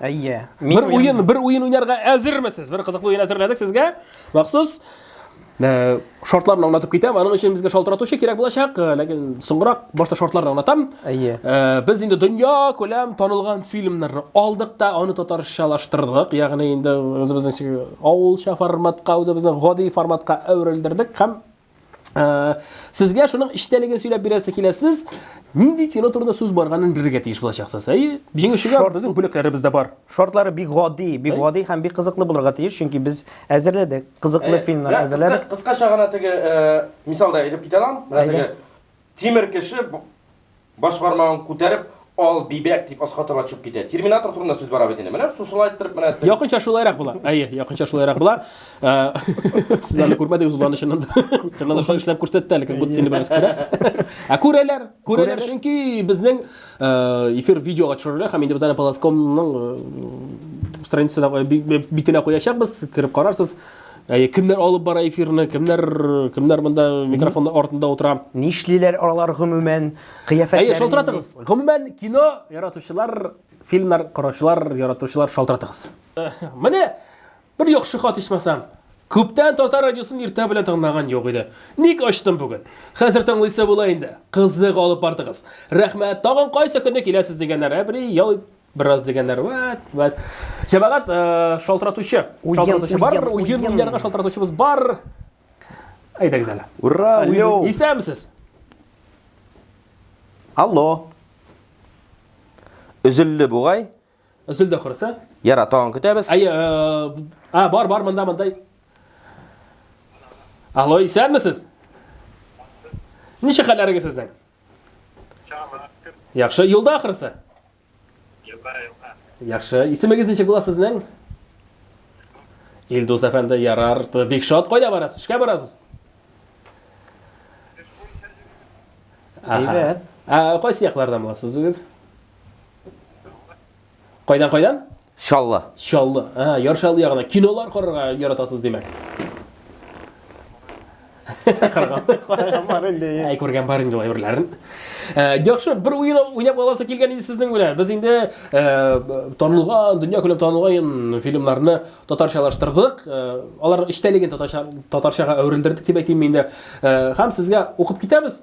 Әйе. Бер уен, бер уен уйнарга әзермесез? Бер кызыклы уен әзерләдек сезгә. Махсус э, шартларны аңлатып китәм. Аның өчен безгә шалтыратучы кирәк булачак, э, ләкин соңрак башта шартларны аңлатам. Әйе. Э, без инде дөнья күләм танылган фильмнарны алдык та, аны татарчалаштырдык. Ягъни инде үзебезнең авылча форматка, үзебезнең гади форматка әверелдердек һәм Сезгә шуның эчтәлеген сөйләп бирәсе килә. Сез нинди кино турында сүз барганын белергә тиеш булачаксыз. Әйе, җиңүчегә безнең бүләкләребез дә бар. Шартлары бик гади, бик гади һәм бик кызыклы булырга тиеш, чөнки без әзерләдек, кызыклы фильмнар әзерләдек. Кыскача гына теге мисалда әйтеп китә алам. Менә теге Тимер кеше баш бармагын күтәреп, ал бибәк дип аска таба чуп китә. Терминатор турында сүз бара бит инде. Менә шушылай иттереп менә әйтте. Якынча шулайрак була. Әйе, якынча шулайрак була. Э, сез аны күрмәдегез ул аны чыннан да. Чыннан да шулай эшләп күрсәтте әле, күп сине бераз күрә. Ә күрәләр, күрәләр, чөнки безнең э, эфир видеога төшерелә һәм инде без аны Паласкомның э, страницасына битенә куячакбыз, кереп карарсыз. Әйе, кемнәр алып бара эфирны, кемнәр кемнәр монда микрофонның артында утыра? Нишлиләр алар гомумән? Кыяфәтләре Әйе, шалтыратыгыз. Гомумән кино яратучылар, фильмнар караучылар, яратучылар шалтыратыгыз. Э, менә бер яхшы хат ичмасам. Күптән татар радиосын иртә белән тыңлаган юк иде. Ник ачтым бүген? Хәзер тыңлыйсы була инде. Кызык алып бардыгыз. Рәхмәт. Тагын кайсы көнне киләсез дигәннәр. Ә бер ял Бераз дигәннәр, вәт, вәт. Җәмәгать э, шалтыратучы. Уен, Шалтыратучы бар, уен, уен уен. уйнарга шалтыратучыбыз бар. Әйдәгез әле. Ура, алло. Исәмсез. Алло. Өзелде бугай. Өзелде ахрысы. Яра, тагын көтәбез. Әйе, э, а, бар, бар, монда, монда. Алло, исәнмесез? Ничек хәлләрегез сезнең? Яхшы, юлда ахрысы? Юлда, юлда. Яхшы, исемегез ничек була сезнең? Илдус әфәнде, ярар, бик шат, кайда барасыз? Эшкә барасыз? Әйбәт. Ә кайсы яклардан буласыз үзегез? Кайдан кайдан? Чаллы. Чаллы. Ага, Яр Чаллы ягына. Кинолар карарга яратасыз, димәк. Караган. Караган бар инде. Әй, күргән бар инде әйберләрен. Э, яхшы, бер уен уйнап аласы килгән иде сезнең белән. Без инде э, танылган, дөнья күләм танылган фильмнарны татарчалаштырдык. Э, алар эчтәлеген татарчага әверелдердек дип әйтим инде. Һәм сезгә укып китәбез.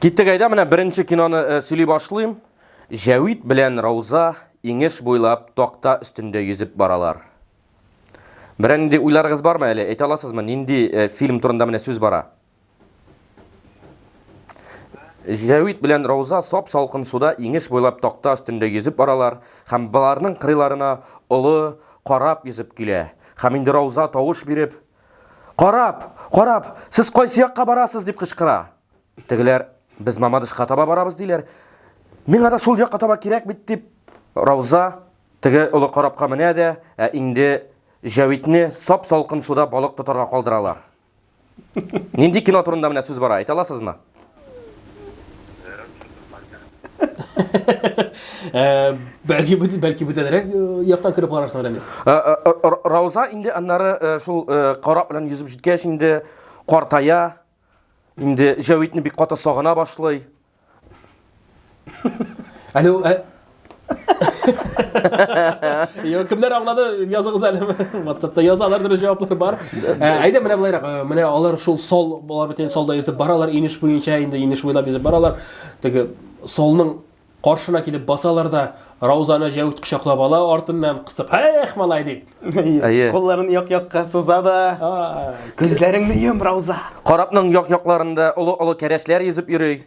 Киттек әйдә, менә беренче киноны э, сөйли башлыйм. Җәвит белән Рауза иңеш буйлап такта өстендә йөзеп баралар. Берәр нинди уйларыгыз бармы әле? Әйтә аласызмы, нинди э, фильм турында менә сүз бара? Җәвит белән Рауза сап салкын суда иңеш буйлап такта өстендә йөзеп баралар һәм баларның кырыйларына олы карап йөзеп килә. Һәм инде Рауза тавыш биреп, Карап! Карап! Сез кайсы якка барасыз? дип кычкыра. Тегеләр, без Мамадышка таба барабыз, диләр. Миңа да шул якка таба кирәк бит, дип Рауза теге олы карапка менә дә, ә инде Җәвитне сап-салкын суда балык тотарга калдыралар. Нинди кино турында менә сүз бара, әйтә аласызмы? Э, бәлки бу бәлки бүтәнрәк э, яктан кереп карарсың Рәмис. Э, Рауза инде аннары шул карап белән йөзеп җиткәч инде картая. Инде Җәвитне бик каты сагына башлый. Әле ул ә- Йо, кемнәр аңлады, языгыз әле. WhatsAppта язалар дөрес җаваплар бар. Ә, Әйдә менә болайрак, ә, менә алар шул сол, алар бөтен солда йөзеп баралар, инеш буенча инде инеш буйлап йөзеп баралар. Теге солның каршына килеп басалар да, Раузаны җәүт кочаклап ала артыннан кысып, "Эх, малай" дип. Әйе. Кулларын як-якка суза да. Күзләреңне йом, Рауза. Карапның як-якларында олы-олы кәрәшләр йөзеп йөри.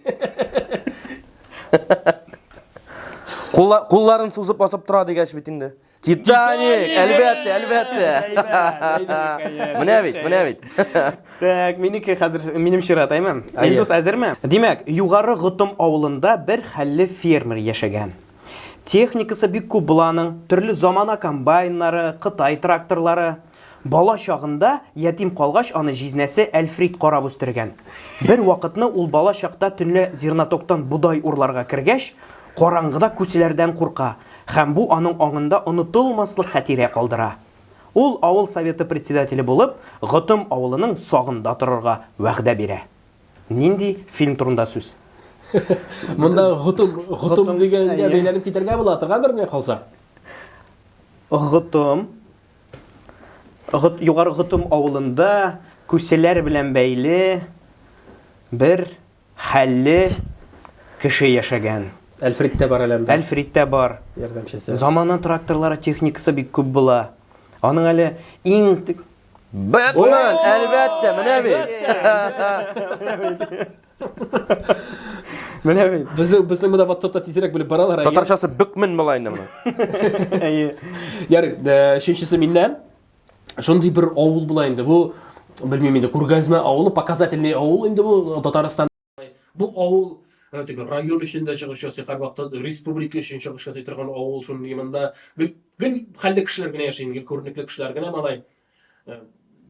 Кулла, кулларын сузып басып тора дигәч бит инде. Титаник, әлбәттә, әлбәттә. Менә бит, менә бит. Так, минеке хәзер минем чират, әйме? Әйе. Илдус әзерме? Димәк, Югары Готым авылында бер хәлле фермер яшәгән. Техникасы бик күп була аның, төрле замана комбайннары, кытай тракторлары. Бала чагында, ятим калгач, аны җизнәсе Әлфрит карап үстергән. Бер вакытны ул бала чакта төнлә зернотоктан бодай урларга кергәч, караңгыда күселәрдән курка һәм бу аның аңында онытылмаслык хәтирә калдыра. Ул авыл советы председателе булып, Готым авылының сагында торырга вәгъдә бирә. Нинди фильм турында сүз? Монда гутум, гутум дигәнгә бәйләнеп китәргә була торгандыр менә калса. Гутум. Гут югары гутум авылында күселәр белән бәйле бер хәлле кеше яшәгән. Әлфриттә бар әле анда. Әлфриттә бар. Ярдәмчесе. Замана тракторлары техникасы бик күп була. Аның әле иң Бэтмен, әлбәттә, менә бит. Менә бит. Безнең безнең монда WhatsAppта тизрәк белеп баралар. әйе. Татарчасы бөкмен була инде моның. Әйе. Ярый, э, өченчесе миннән. Шундый бер авыл була инде. Бу белмим инде, күргәзмә авылы, показательный авыл инде бу Татарстан Бу авыл тип район өчен дә чыгыш ясый, һәрвакытта республика өчен чыгыш ясый торган авыл шул монда гел гел хәлле кешеләр генә яши, гел күренекле кешеләр генә малай.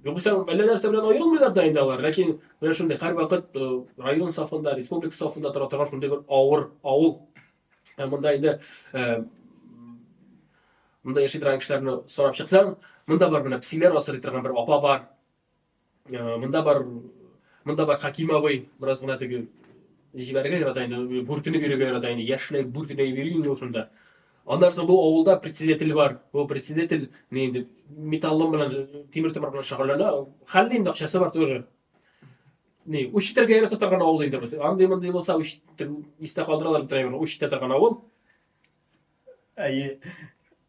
Югыйсә әллә нәрсә белән аерылмыйлар да инде алар, ләкин менә шундый һәрвакыт район сафында, республика сафында тора торган шундый бер авыр авыл. Монда инде монда яши торган кешеләрне сорап чыксаң, монда бар менә псиләр асрый торган бер апа бар. Э, монда бар монда бар хакимовый бераз гына теге җибәрергә ярата инде бүртенеп йөрергә ярата инде яшьләй бүртенеп йөри инде ул шунда аннан соң бу авылда председатель бар бу председатель не инде металлом белән тимер тимер белән шөгыльләнә хәлле инде акчасы бар тоже не үч итәргә ярата торган авыл инде бу андый мондый булса үч истә калдыралар бетерәләр үч итә торган авыл әйе